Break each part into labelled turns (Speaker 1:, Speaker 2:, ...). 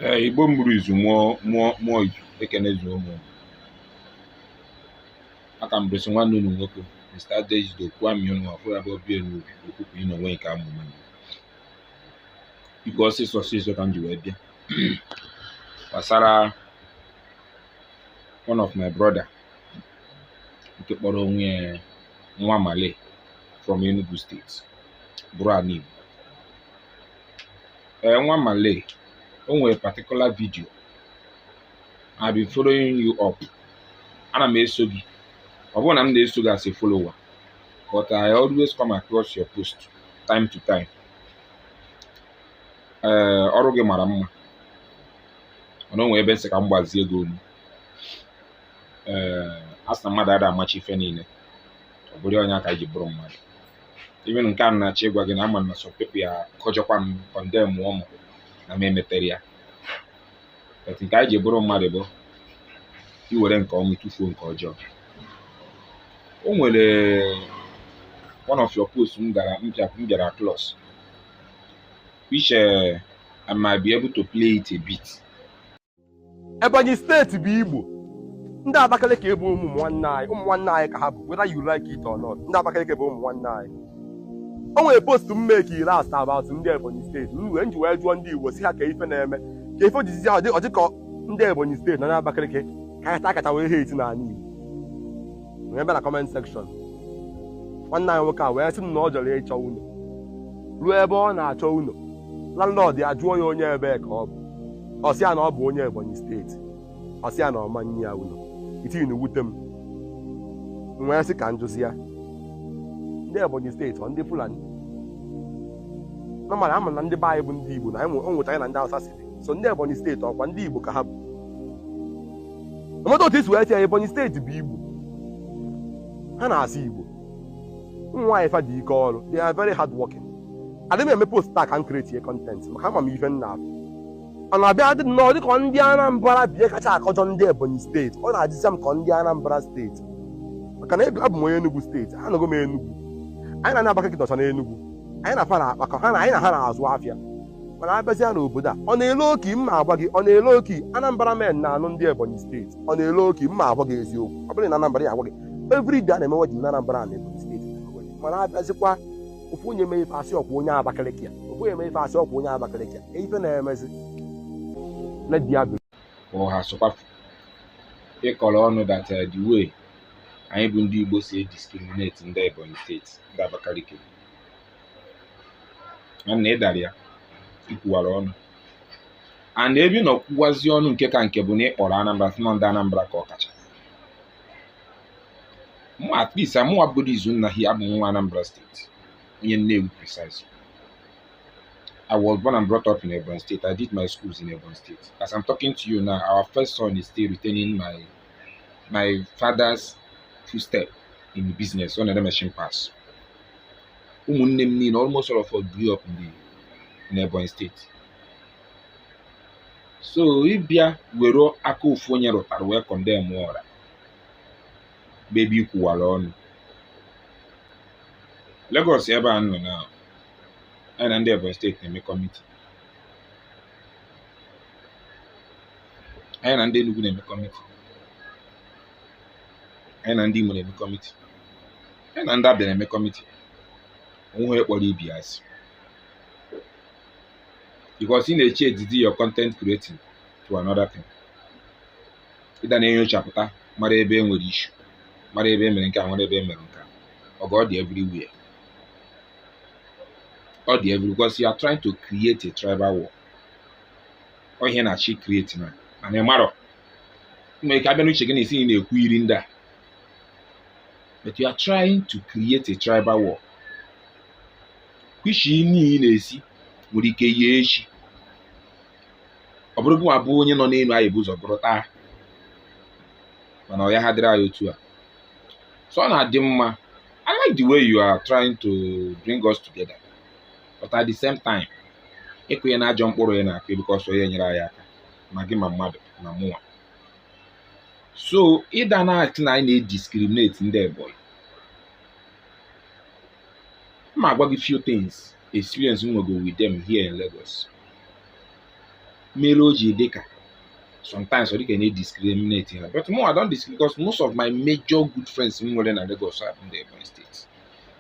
Speaker 1: ee igbo mụrụ izu mụọ mụọ mụọ izu ekene zuo unu a ka m bụrịsị nwanne unu nwoke mr adejido kwami unu ọfụrụ abụ obi elu okwukwu ị n'onwe nke amụma m biko ọsịsọ ọsịsọ ka m ji wee bịa gbasara one of my brother nke kpọrọ onwe ya nwa male from enugu steeti bụrụ ana igbo ee nwa male o nwere particular video I've been following you up ana m eso gị ọ bụrọ na m na-eso gị as a follower but I always come across your post time to time ee ọrụ gị mara mma mana o nwere ebe m sị ka m gbazie gị olu ee a sị na mmadụ ada amacha ife niile ọ bụrụ nya ka anyị ji bụrụ mmadụ even nke a m na-achọ ịgwa gị na ama m na some people ya akọjọkwa m kọndemụọ m na m emeterọ ya but nke anyị ji bụrụ mmadụ bụ iwere nke ọma tụfuo nke ọjọọ o nwere one of your posts m gara m bịa- m bịara across which uh, I might be able to play it a bit Ebonyi steeti bụ Igbo ndị Abakaliki bụ ụmụ nwanne anyị ụmụ nwanne anyị ka ha bụ whether you like it or not ndị Abakaliki bụ ụmụ nwanne anyị o nwere post m makeiri asa about ndị Ebonyi steeti m wee m ji wee jụọ ndị Igbo sị ha kee ife na-eme kee ife o jizi ahụ dị ọ dị ka ọ ndị Ebonyi steeti na ndị Abakaliki ka a kacha wee hate n'ala Igbo wee bịa na comment section nwanne anyị nwoke a wee sị m na o jere ịchọ ụlọ ruo ebe ọ na-achọ ụlọ landlord ya jụọ ya onye ebee ka ọ bụ ọ sị ya na ọ bụ onye ebonyi steeti ọ sị ya na ọ ma nye ya ụlọ the thing ewute m m wee sị ka m jụzie ya ndị ebonyi steeti ọ ndị fulani nọmara ama na ndị be anyị bụ ndị igbo na anyị nwe- o nwetara na ndị hausa si dị so ndị ebonyi steeti ọ kwa ndị igbo ka ha bụ no matter otu i si wee tie ya ebonyi steeti bụ igbo ha na-asụ igbo ụmụ nwaanyị fa dị ike ọrụ they are very hard working adịghị m eme post a ka m kretie kọntentị maka ama m ife m na-afụ ọ na-abịa dị nnọọ dịka ndị Anambra bie kacha akọjọ ndị Ebonyi steeti ọ na-adịzi m ka ndị Anambra steeti maka na abụ m onye Enugu steeti anọgo m Enugu anyị na ndị Abakaliki nọcha n'Enugu anyị na fa na-akpakọ ha na anyị na ha na-azụ afịa mana abịazịa n'obodo a ọ na-ele oki m na-agwa gị ọ na-ele oki Anambra men na-anụ ndị Ebonyi steeti ọ na-ele oki m na-agwa gị eziokwu ọ bụrụ na Anambra ya agwa gị every day a na-eme wedding na Anambra na Ebonyi steeti mana abịazikwa ofu onye mee ife asị ọkwa onye Abakaliki ya ofu onye mee ife asị ọkwa onye Abakaliki ya ife na-emezi na di ya ụha sụkwafu ịkọrọ ọnụ that uh, the way anyị bụ ndị Igbo si ediscriminate ndị Ebonyi steeti ndị Abakaliki na ị dara ya i kwuwara ọnụ and ebe ị nọ kwuwazi ọnụ nke ka nke bụ na ị kpọrọ Anambra sị na ndị Anambra ka ọ kacha mụ at least amụwa bụgodo Izunna hi abụ nwa Anambra steeti onye Nnewi precisely I was born and brought up in Ebonyi State. I did my schools in Ebonyi State. As I'm talking to you now, our first son is still retaining my my father's footstep in the business ọ na-ere machine parts. Ụmụnne m niile almost all of us grew up in the in Ebonyi State. So ịbịa were aka ofu onye rụtara wee condemn ọra bụ ebe i kwuwara ọnụ Lagos ebe a nọ now anyị na ndị Ebonyi steeti na-eme kọmiti anyị na ndị Enugu na-eme kọmiti anyị na ndị Imo na-eme kọmiti anyị na ndị Abịa na-eme kọmiti o nweghị kpọrọ ibe asị because ị na-eche edidi your content creating to another thing ịda na-enyochapụta mara ebe e nwere issue mara ebe e mere nke a mara ebe e mere nke a ọgụ ọ dị everywhere ọ dị everywhere because you are trying to create a tribal war ọ ihe ị na-achọ ịcreate now mana ị marọ nwere ike abịa n'uche gị na ị sị ị na-ekwuru ndị a but you are trying to create a tribal war kwishi niile na-esi nwere ike yie echi ọ bụrụ gịnwa bụ onye nọ n'elu anyị bụ ụzọ bụrụ taa mana ọ ya ha dịrị anyị otu a so ọ na-adị mma I like the way you are trying to bring us together but at the same time ịkụnye na ajọ mkpụrụ ya na-akụ because ọ ya enyere anyị aka ma gị ma mmadụ ma mụnwa so ịda na-asị na anyị na-ediscriminate ndị Ebonyi m agwa gị few things experience m nwego with them here in Lagos mere o ji dị ka sometimes ọ dị ka a na-ediscriminate ha but mụ I don't discriminate because most of my major good friends m nwere na Lagos are from the Ebonyi steeti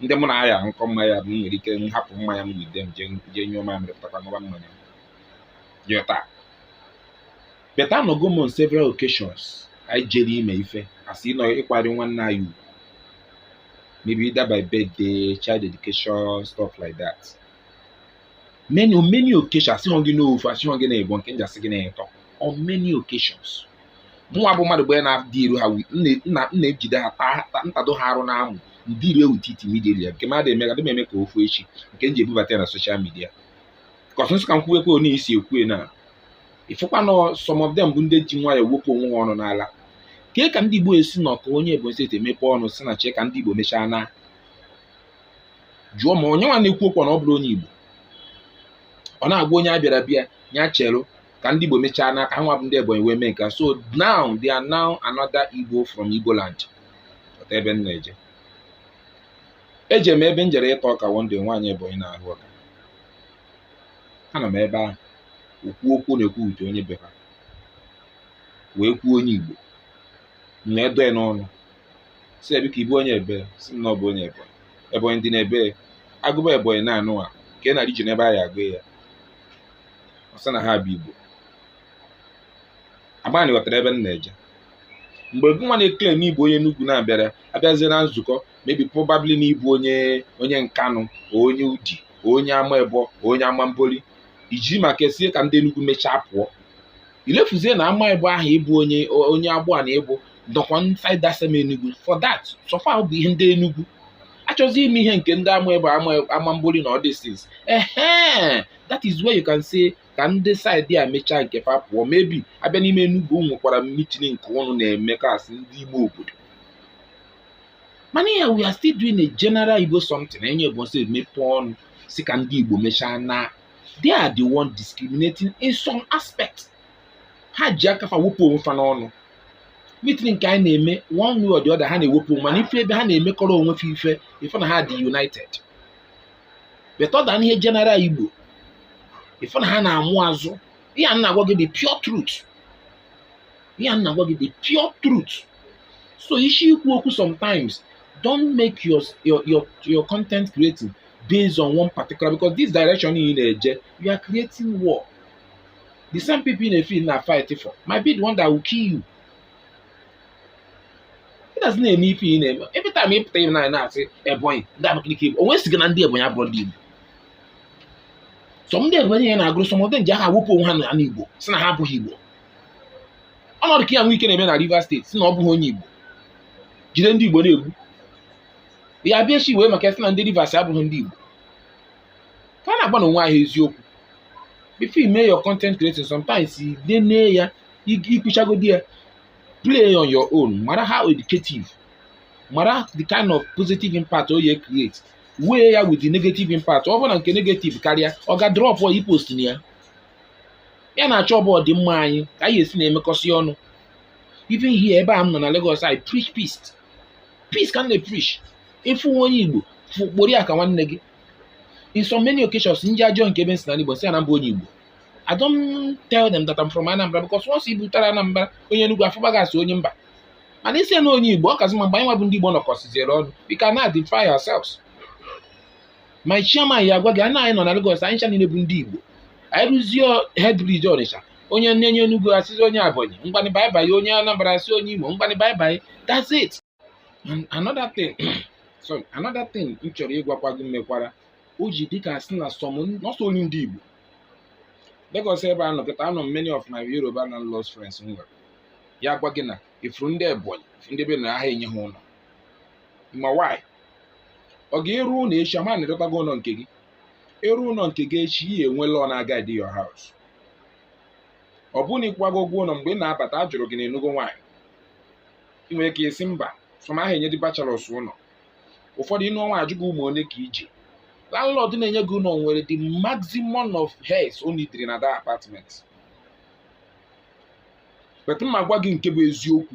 Speaker 1: ndị mụ na ha ya aṅụkọ mmanya bụ m nwere ike m hapụ mmanya m with them jee jee nyụọ mamịrị pụtakwa ṅụba mmanya m. Jee taa but anọgo m on several occasions anyị jere ime ife a sị na ịkwanyere nwanne anyị ugwu maybe either by birthday child dedication stuff like that many on many occasions asịghọ gị n'ofu asịghọ gị n'ịbọ nke m ji asị gị n'etọ on many occasions mụnwa bụ mmadụ bụ onye na-adị iru ha wi- m na- m na- m na-ejide ha taa taa- m tado ha arụ n'amụ ndị iru ewu titi midia nke mmadụ eme adị m eme ka ofu echi nke m ji ebubata ya na social media 'cause m sị ka m kwuwekwe onye isi ekwue na ịfụkwa na some of them bụ ndị ji nwayọọ wepụ onwe ha ọnụ n'ala kee ka ndị Igbo esi nọ ka onye Ebonyi state e mepe ọnụ sị na chee ka ndị Igbo mechaa na jụọ ma onye nwa na-ekwu okwu na ọ bụrọ onye Igbo ọ na-agwa onye abịara abịa ya chere ka ndị Igbo mechaa na ka ha nwa bụ ndị Ebonyi wee mee nke a. so now they are now another Igbo from Igbo land ọta ebe m na-eje eje m ebe m jere ịta ọka one day nwaanyị Ebonyi na-ahụ ọka anọ m ebe ahụ okwu okwu na-ekwu uche onye be ha wee kwuo onye igbo na edo ya n'ọnụ sị ya biko ị bụ onye ebee sị m na ọ bụ onye ebonyi ebonyi dị n'ebee a gụba ebonyi n'ụwa kee na region ebe a ya-agụ ya ọ sị na ha bụ igbo ama m na ị ghọtara ebe m na-eje mgbe gị nwa na-e claim na ị bụ onye Enugu na-abịara abịazie na nzukọ maybe probably na ị bụ onye onye nkanụ onye udi onye ama ebo onye ama mboli i ji maka ya sị ka ndị Enugu mechaa pụọ ilefuzie na ama ebo ahụ ị bụ onye onye agbụa na ị bụ dọkwa inside that same Enugu for that so far bụ ihe ndị Enugu achọzi ime ihe nke ndị ama ebe ama mboli na all these things ehe that is where you can say ka ndị side a mechaa nke fa pụọ maybe a bịa n'ime Enugu nwekwara meeting nke ụnụ na-eme kasị ndị ime obodo mana ihe a we are still doing a general Igbo something onye ga-esi mepe ọnụ sị ka ndị Igbo mechaa na they are the one discriminating in some aspect ha ji aka fa wepụ onwe fa n'ọnụ meeting nke anyị na-eme one way or the other ha na-ewepụ onwe mana ị fụ ebe ha na-emekọrọ onwe fa ife ị fụ na ha dị united but ọ dị n'ihe general Igbo ị fụ na ha na-amụ azụ ihe m na-agwa gị bụ pure truth ihe a m na-agwa gị the pure truth so ị si ekwu okwu sometimes don't make your your your, your content creating based on one particular because this direction ị na-eje you are creating war the same people ị fụ ị na-a fight for might be the one that will kill you ị na-asị na-eme ife ị na-eme every time ị pụta ibe na na-asị ebonyi ndị abakaliki igbo onye sị gị na ndị ebonyi abụrọ ndị igbo sọ ndị ebonyi ya na-agụrụ some of them ji aka wepụ onwe ha na igbo sị na ha abụghị igbo ọnọdụ ka ya nwe ike na-eme na Rivers state si na ọ bụghị onye Igbo jide ndị Igbo na-egbu ya bụ ishi iwe maka a sị na ndị Rivers abụghị ndị Igbo ka a na-agwanụ onwe anyị eziokwu before you make your content creating sometimes you dey near ya ikwuchagodi ya play on your own mara how educative mara the kind of positive impact o ye create weigh ya with the negative impact ọ bụrụ na nke negative karịa ọga dropuo ipostna ya ihe a na-achọ bụ ọdịmma anyị ka anyị esi na-emekọsị ọnụ even here ebe a m nọ na Lagos I preach peace peace ka m na-epreach ịfụ nwa onye Igbo fụ kpọrọ ya ka nwanne gị in so many occasions ndị a jụọ m kee ebe m si na Igbo sị ya na m bụ onye Igbo I don't tell them that I'm from Anambra because once ị butere Anambra onye Enugu afụba gị asị onye mba mana ị sị na onye Igbo ọ kazi mma mgbe anyị nwa bụ ndị Igbo nọkọsiziere ọnụ we can identify ourselves my chairman ya agwa gị na anyị nọ na Lagos anyị ncha niile bụ ndị Igbo anyị ruzie head bridge Ọnịcha onye onye Enugu asịzi onye Ebonyi ngwanụ bye bye onye Anambra asị onye Imo ngwanụ bye bye that's it and another thing sorry another thing m chọrọ ịgwakwa gị mekwara o ji dịka a sị na some nọsọ onye ndị Igbo Lagos ebe a nọkịta anọ m many of my Yoruba landlord friends m nwere ya gwa gị na ifuru ndị Ebonyi ifuru ndị be na aha enye ha ụlọ ma why ọga ị rụọ ụlọ echi ama na-edọtago ụlọ nke gị ị rụọ ụlọ nke gị echi ị enwe law na-aguide your house ọ bụrụ na ị kwụgo ụgwọ ụlọ mgbe ị na-abata a jụrụ gị na ị nụgo nwaanyị ị nwere ike ị sị mba some aha enye ndị bachelors ụlọ ụfọdụ ị nụọ nwaanyị a jụọ gị ụmụ ole ka i ji landlord na-enye gị ụlọ nwere the maximum of heads o needịrị na that apartment but mụ agwa gị nke bụ eziokwu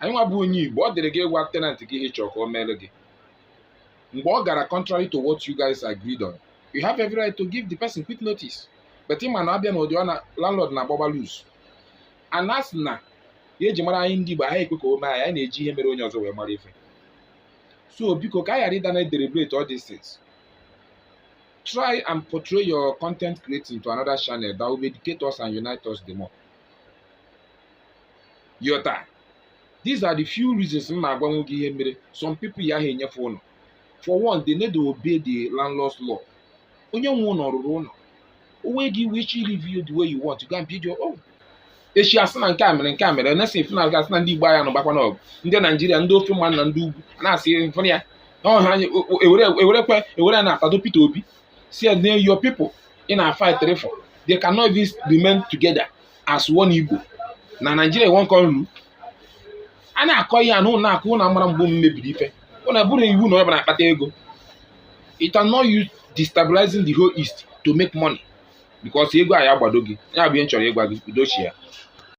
Speaker 1: anyị nwa bụ onye igbo ọ dịrị gị ịgwa tenant gị ihe ị chọrọ ka o meere gị mgbe ọ gara contrary to what you guys agreed on you have every right to give the person quick notice but ị ma na abịa n'ụdị ọ na landlord na-agbagba loose a na-asị na ihe e ji mara anyị ndị igbo anyị ekwe ka o mee anyị anyị na-eji ihe mere onye ọzọ wee mara ife so biko ka anyị ghara ịdị na-edeliberate all these things try and portray your content creating to another channel that will educate us and unite us the more ịghọta these are the few reasons m na-agwanwu gị ihe mere some people ya aha enye fa ụlọ for one they need to obey the landlord's law onye nwe ụlọ rụrụ ụlọ onwe gị wee chi live you the way you want to go and build your own echi asị na nke a mere nke a mere na-esi efu na asị na ndị igbo anyị anụgbakwa n'ọgụ ndị naijiria ndị ofe mmanụ na ndị ugwu na-asị mfụrụ ya ọha ewerekwe ewere e na-atado Peter Obi si ya your people ị na-fight for they cannot even remain together as one Igbo na Nigeria one country a na-akọ ihe a unu na-akọ unu amara mgbe m mebiri ife unu bụrụ iwu na onye ọ bụla akpata ego it can not use destabilizing the whole east to make money because ego a ya agbado gị ya bụ ihe m chọrọ ịgwa gị udochi ya